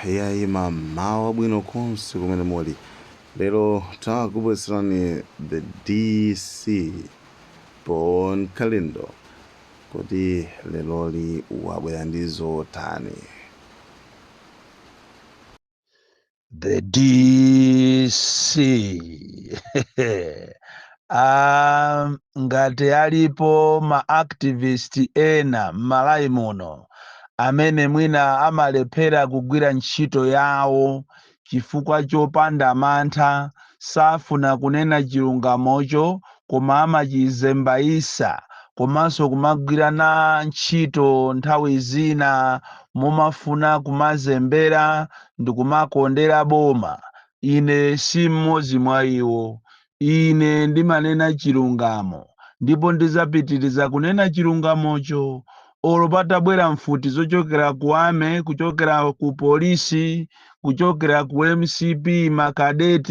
Iyayi mmawa wabwino konse kumene muli. Lero takubweretserani the DC Bon Kalindo. Kodi leroli wabwera ndi zotani? The DC Aaa ngati alipo ma activist ena m'Malawi muno amene mwina amalephera kugwira ntchito yawo chifukwa chopanda mantha safuna kunena chilungamocho koma amachizembaisa komanso kumagwira na ntchito nthawi zina momafuna kumazembera ndikumakondera boma ine si mmodzi mwa iwo Ine ndimanena chilungamo, ndipo ndizapitiriza kunena chilungamocho, olo patabwera mfuti zochokera ku army, kuchokera ku police, kuchokera ku mcp, ma cadet,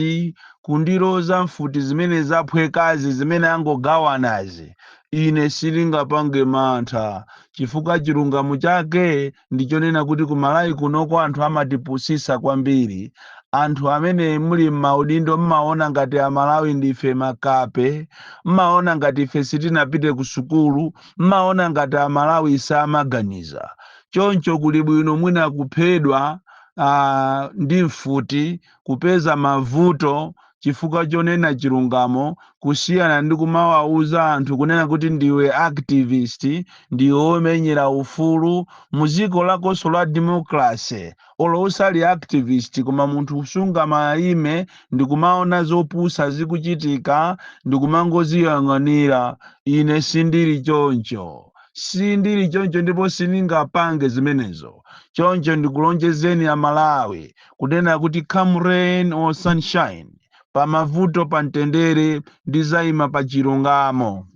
kundiloza mfuti zimene zaphwekazi, zimene angogawanazi, ine sindingapange mantha, chifukwa chilungamo chake ndi chonena kuti ku Malawi kunoko anthu amatipusisa kwambiri. Anthu amene muli m'maudindo mmaona ngati Amalawi ndife makape, mmaona ngati ife sitinapite ku sukulu, mmaona ngati Amalawi samaganiza. Choncho kuli bwino mwina kuphedwa ah, ndi mfuti kupeza mavuto chifukwa chonena chilungamo kusiyana ndi kumawauza anthu kunena kuti ndiwe activist ndiwe womenyera ufulu mu dziko lakonso la democracy olo usali activist koma munthu usungamaime ndikumaona zopusa zikuchitika ndikumangoziyang'anira ine sindili choncho sindili choncho ndipo sindingapange zimenezo choncho ndikulonjezeni amalawi Kunena kuti come rain or sunshine, pamavuto pamtendere ndizaima pa chilungamo.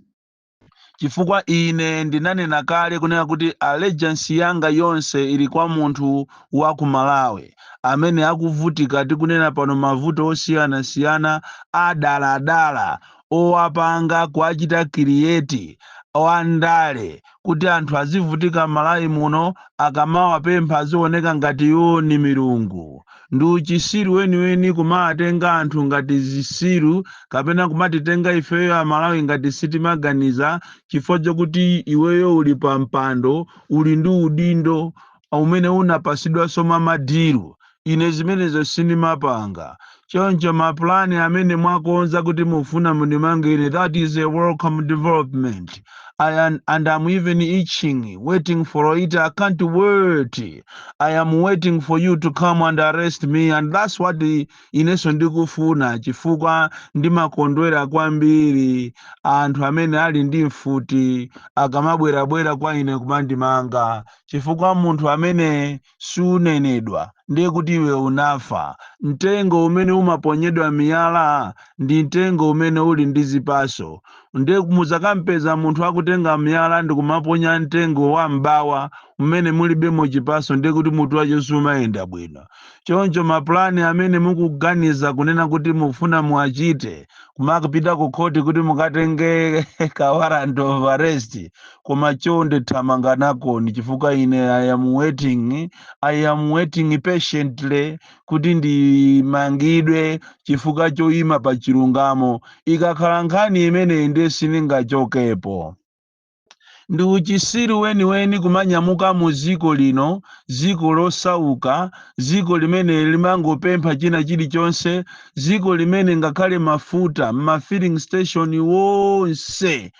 Chifukwa ine ndinanena kale kunena kuti allegiance yanga yonse ili kwa munthu wa ku Malawi amene akuvutika tikunena pano mavuto osiyanasiyana adaladala owapanga kuwachita create wandale kuti anthu azivutika m'malawi muno akamawapempha azioneka ngati iwo ni milungu ndi uchisiru weniweni kumawatenga anthu ngati zisiru kapena kumatitenga ifeyo amalawi ngati sitimaganiza chifukwa chokuti iweyo uli pa mpando uli ndi udindo umene unapasidwanso mwa madilu Ine zimenezo sindimapanga. Choncho ma plan amene mwakonza kuti mufuna mundimanga ine that is a welcome development and am even itching waiting for it I can't wait I am waiting for you to come and arrest me and that's what i- inenso ndikufuna chifukwa ndimakondwera kwambiri anthu amene ali ndi mfuti akamabwerabwera kwa ine kumandimanga chifukwa munthu amene siunenedwa, ndiye kuti iwe unafa. Mtengo umene umaponyedwa miyala ndi mtengo umene uli ndi zipaso. Ndiye muzakampeza munthu akutenga miyala ndi kumaponya mtengo wa m'bawa umene mulibemo chipaso ndiye kuti mutu wacho siumayenda bwino. Choncho mapulani amene mukuganiza kunena kuti mufuna muwachite, kumakapita ku khoti kuti mukatenge ka warrant of arrest, koma chonde thamanga nakoni chifukwa ine i am waiting i am waiting patiently kuti ndimangidwe chifukwa choyima pa chilungamo ikakhala nkhani imeneyi ndiye siningachokepo ndi uchisiru weniweni kumanyamuka mu ziko lino dziko losauka ziko limene limangopempha china chilichonse dziko limene ngakhale mafuta m'mafilling station wonse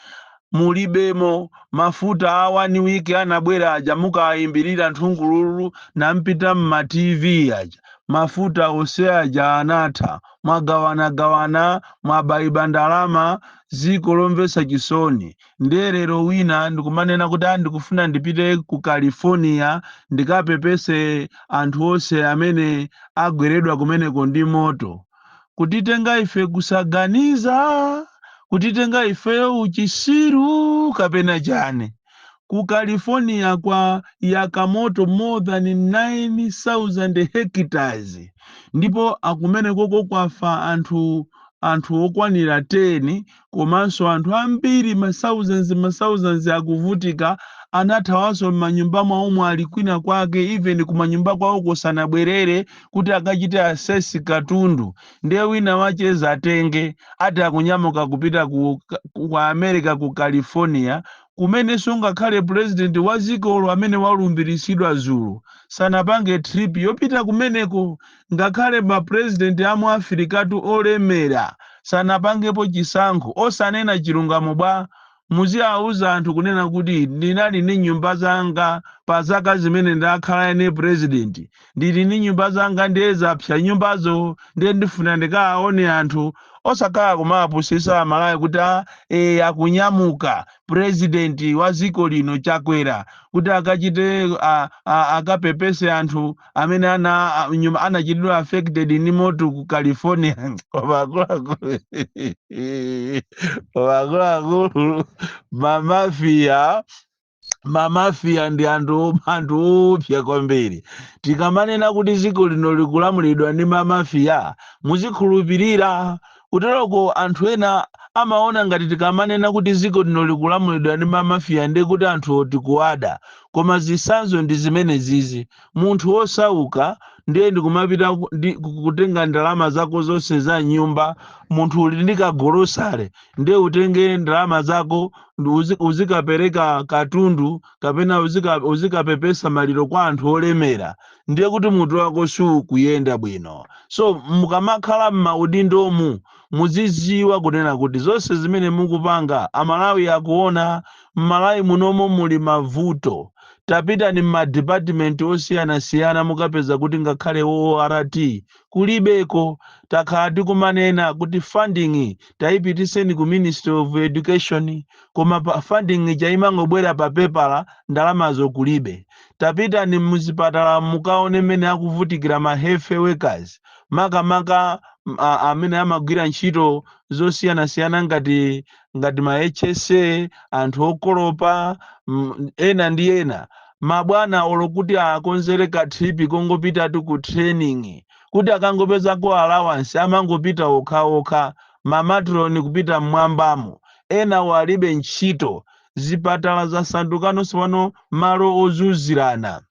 mulibemo mafuta a one week anabwera aja mukaayimbirira nthungululu nampita mma tv aja mafuta onse aja anatha mwagawanagawana mwabaiba ndalama ziko lomvesa chisoni ndiye lero wina ndikumanena kuti "Ah, ndikufuna ndipite ku california ndikapepese anthu onse amene agweredwa kumeneko ndi moto kutitenga ife kusaganiza, kutitenga ifeyo uchisiru kapena chani. Ku California kwayaka moto more than 9,000 hectares ndipo akumenekoko kwafa anthu anthu okwanira 10 komanso anthu ambiri ma thousands ma thousands akuvutika anathawanso m'manyumba mwawomo ali kwina kwake even kumanyumba kwawoko sanabwerere kuti akachite assess katundu ndiye wina wache zatenge ati akunyamuka kupita ku, ku, ku america ku california kumenenso ngakhale president wa dzikolo amene walumbirisidwa dzulo sanapange trip yopita kumeneko Ngakhale ma president a mu Africatu olemera sanapangepo chisankho. Osanena chilungamo bwa? Muziauza anthu kunena kuti ndinali ndi nyumba zanga pa zaka zimene ndakhala ine president. Ndili ndi nyumba zanga ndiye zapsa nyumbazo ndiye ndifuna ndikaaone anthu. Osakhala kumawapusisa amalawi kuti a eh akunyamuka president wa ziko lino Chakwera kuti akachite a a akapepese anthu. amene ana a- nyumba anachitidwa affected ndi moto ku california koma akuluakulu koma akuluakulu mamafiya mamafiya ndi anthu anthu oopsya kwambiri tikamanena kuti dziko lino likulamulidwa ndi mamafiya muzikhulupirira Kuteroko anthu ena amaona ngati tikamanena kuti dziko lino likulamulidwa ndi ma Mafia ndiye kuti anthuwo tikuwada. Koma zitsanzo ndi zimenezizi. Munthu wosauka ndiye ndikumapita kutenga ndalama zako zonse za m'nyumba, munthu uli ndi ka golosale ndiye utenge ndalama zako uzikapereka katundu, kapena uzika, uzikapepesa maliro kwa anthu olemera ndiye kuti mutu wako sukuyenda bwino so mukamakhala m'maudindomu muziziwa kunena kuti zonse zimene mukupanga amalawi akuona m'malawi munomo muli mavuto tapitani m'madipatimenti osiyanasiyana mukapeza kuti ngakhale ort kulibeko takhala tikumanena kuti funding taipitiseni ku ministry of education koma funding ija imangobwera pa pepala ndalamazo kulibe tapitani muzipatala mukaone mmene akuvutikira ma health workers makamaka m- a- amene amagwira ntchito zosiyanasiyana ngati ngati ma HSA, anthu okolopa, mm, ena ndi ena mabwana olo kuti akonzere ka trip kongopitatu ku training kuti akangopezako allowance amangopita okhaokha mamatroni kupita mmwambamo enawo alibe ntchito zipatala zasandukanonso pano malo ozunzirana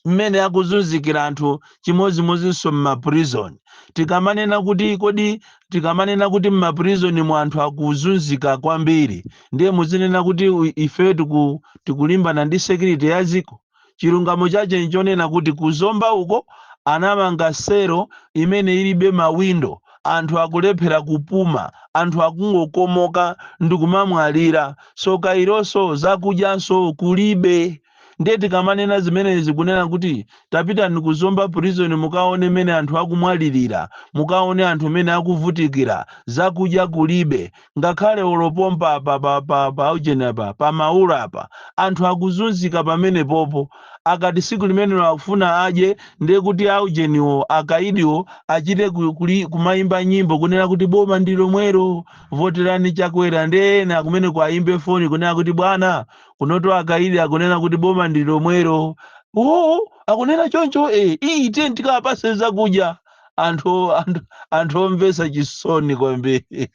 mmene akuzunzikira anthu chimodzimodzinso m'maprison tikamanena kuti kodi tikamanena kuti m'maprisonmu anthu akuzunzika kwambiri ndiye muzinena kuti u- ifeyo tiku, tikulimbana ndi security ya dziko chilungamo chache nchonena kuti kuzomba uko anamanga sero imene ilibe mawindo anthu akulephera kupuma anthu akungokomoka ndikumamwalira so kaironso zakudyanso kulibe Ndiye tikamanena zimenezi kunena kuti tapitani ku Zomba prison mukaone mene anthu akumwalilira, mukaone anthu mene akuvutikila, zakudya kulibe, ngakhale olo pompa apa pa pa pa ujeni apa pa Maula apa anthu akuzunzika pamenepopo akati siku limene akufuna adye ndiye kuti a ujeniwo, akaidiwo achite ku kumaimba nyimbo kunena kuti boma ndilomwelo, votelani Chakwera ndiye ena kumeneko aimbe foni kunena kuti bwana kunoto akaidi akunena kuti boma ndi lomwelo oo akunena choncho e iyi tiye tikawapase zakudya anthu anthu anthu omvesa chisoni kwambiri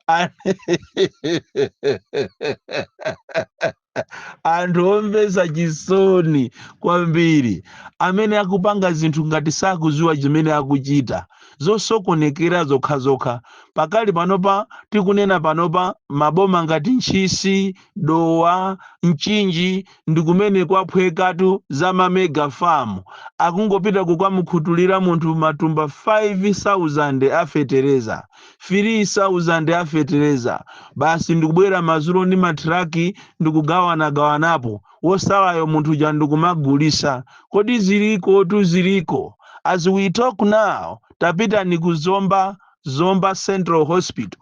An- anthu omvesa chisoni kwambiri amene akupanga zinthu ngati sakuziwa chimene akuchita zosokonekera zokhazokha. Pakali panopa tikunena panopa, maboma ngati Ntchisi, Dowa, Mchinji ndi kumene kwaphwekatu za ma mega farm akungopita kukamukhutulira munthu matumba 5,000 a fetereza, 3,000 a fetereza basi ndikubwera madzulo ndi ma truck ndikugawanagawanapo. wosalayo munthu uja ndikumagulisa kodi zilikotu ziliko as we talk now tapitani ku zomba zomba central hospital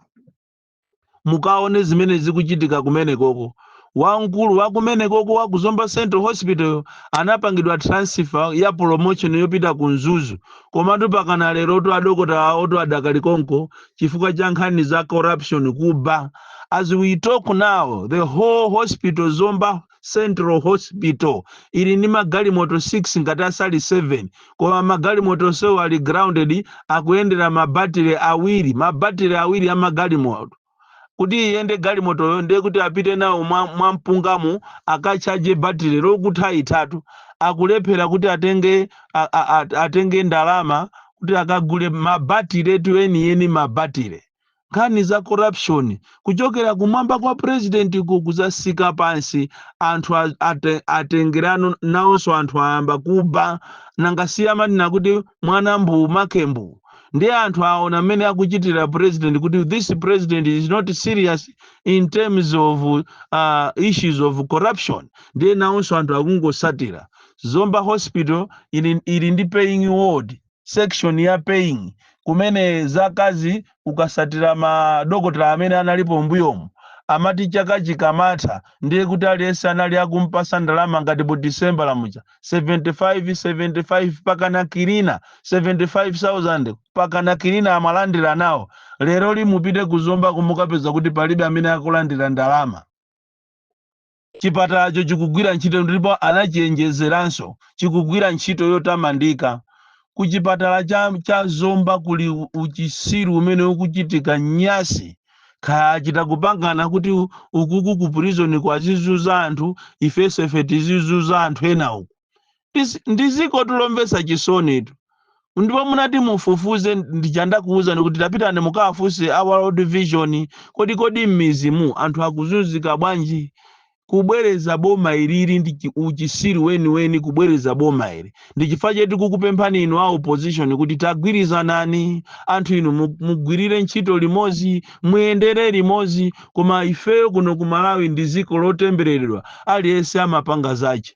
mukaone zimene zikuchitika kumene koko wamkulu wakumene koko wa ku zomba central hospital anapangidwa transfer ya promotion yopita ku mzuzu komatu pakana lero tu adokotala tu adakali konko chifukwa cha nkhani za corruption kuba as we talk now the whole hospital zomba central hospital ili ndi magalimoto 6 ngati asali 7 koma magalimoto onsewo ali grounded akuyendera mabatire awiri mabatire awiri a magalimoto kuti iyende galimotoyo ndiye kuti apite nawo mwa, mwa mpungamo akachaje batire lokutha ithatu akulephera kuti atenge a, a, a, atenge ndalama kuti akagule mabatiletu enieni mabatile nkhani za corruption kuchokera kumwamba kwa president ku kuzasika pansi anthu a- ate- atengerano nawonso anthu ayamba kuba nanga si amanena kuti mwana mbu make mbu ndiye anthu aona mmene akuchitira president kuti this president is not serious in terms of uh, issues of corruption ndiye nawonso anthu akungosatira Zomba Hospital ili, ili ndi paying ward, section ya paying kumene zakazi ukasatira ma dokotala amene analipo mbuyomu amati chaka chikamatha ndiye kuti aliyense anali akumpasa ndalama ngati bonasi December lamuja 75 75 pakana kilina 75000 pakana kilina amalandira nawo leroli mupite ku Zombaku mukapeza kuti palibe amene akulandira ndalama Chipatalacho chikugwira ntchito ndipo anachenjezeranso chikugwira ntchito yotamandika. Ku chipatala cha cha Zomba kuli uchisiru umene ukuchitika nyasi. Kaya achita kupangana kuti ukuku ku prisoniko azizuza anthu ifenso ife tizizuza anthu ena uku. Is- ndi dziko tu lomvetsa chisonitu ndipo munati mufufuze ndija ndakuwuzani kuti tapitani mukawafunse a world vision kodi kodi m'mizimu anthu akuzunzika bwanji kubwereza boma ilili ndi chi- uchisiru weniweni kubwereza boma ili ndi chifukwa choti kukupemphani inu a opposition kuti tagwirizanani anthu inu mu- mugwirire ntchito limodzi muyendere limodzi koma ifeyo kuno ku malawi ndi dziko lotembereredwa aliyense amapanga zache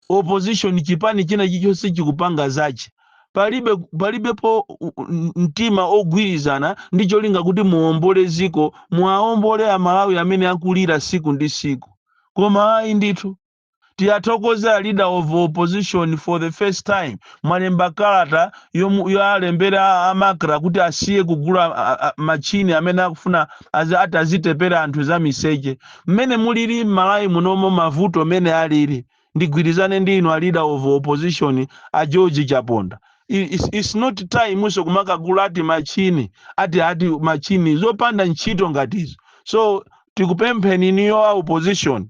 opposition chipani china chichonse chikupanga zache palibe palibepo u- u- mtima ogwirizana ndi cholinga kuti muombole dziko muwaombole amalawi amene akulira siku ndi siku koma ayi ndithu tiyathokoze a leader of opposition for the first time mwalemba kalata yomu- yowalembera a MACRA kuti asiye kugula a- a- machini amene akufuna azi- ati azitepera anthu za miseche mmene mulili mmalawi munomo mavuto mene alili ndigwilizane ndi inu a leader of opposition a George Chaponda it's not time so kumakagula ati machine ati ati machine zopanda ntchito ngati izo so tikupempheni inuyo a opposition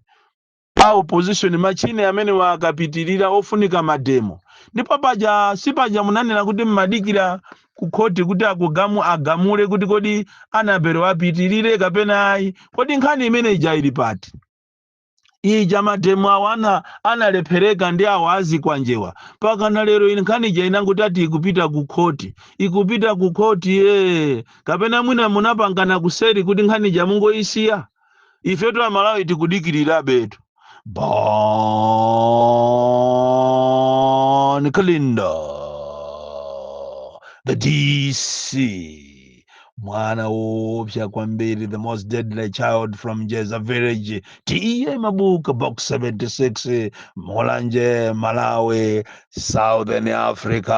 a opposition machine amenewa akapitilira ofunika mademo ndipo paja sipaja munanena kuti mmadikira ku khoti kuti akugamu agamule kuti kodi Anabelo apitirire kapena ayi kodi nkhani imene ija ili pati ija mademo aja ana- analephereka ndi awa azikwanjewa pakana lero ine nkhani ija inangoti ati ikupita ku khoti ikupita ku khoti ee kapena mwina munapangana kuseri kuti nkhani ija mungoyisiya ifetu amalawi tikudikirirabetu bon kalindo the dc mwana woopsa kwambiri the most deadly child from jeza village T/A Mabuka box 76 mulanje malawi southern africa